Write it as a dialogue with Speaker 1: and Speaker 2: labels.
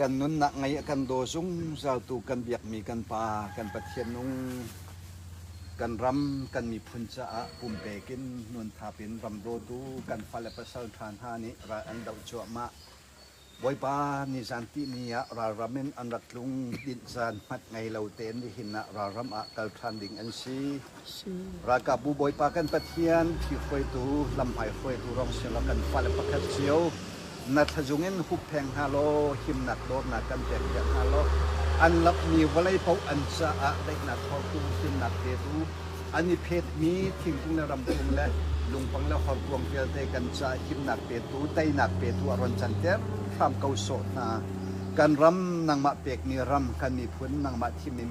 Speaker 1: Kan nunnak ngei a kan daw zungzal tu kan biakmi kan Pa, kan Pathian nung, kan ram, kan miphun caah pumpek in nuanthap in ram dawtu kan fale pasal ṭha hna nih ral an doh cuahmah. Bawipa ni zan ti ni ah ralram in an rak tlung, dinh zan hmat ngei lo tein nihin ah ralram ah kal ṭhan ding an si. Ralkapbu Bawipa kan Pathian, Phi hruaitu, Lamhmai hruaitu Rom sianglo kan fale pakhat cio, na thlazung in huppheng hna law, himnak dawtnak kan pekpiak hna law, an lapmi vawlei paoh an caah daihnak hortu, himnak petu, an i phetmi thingkung le ramkung le lungpang le horkuang vialte kan caah himnak petu, teinak petu a ron canter hram ko sawh hna. Kan ram nangmah pekmi ram, kan miphun nangmah thimmi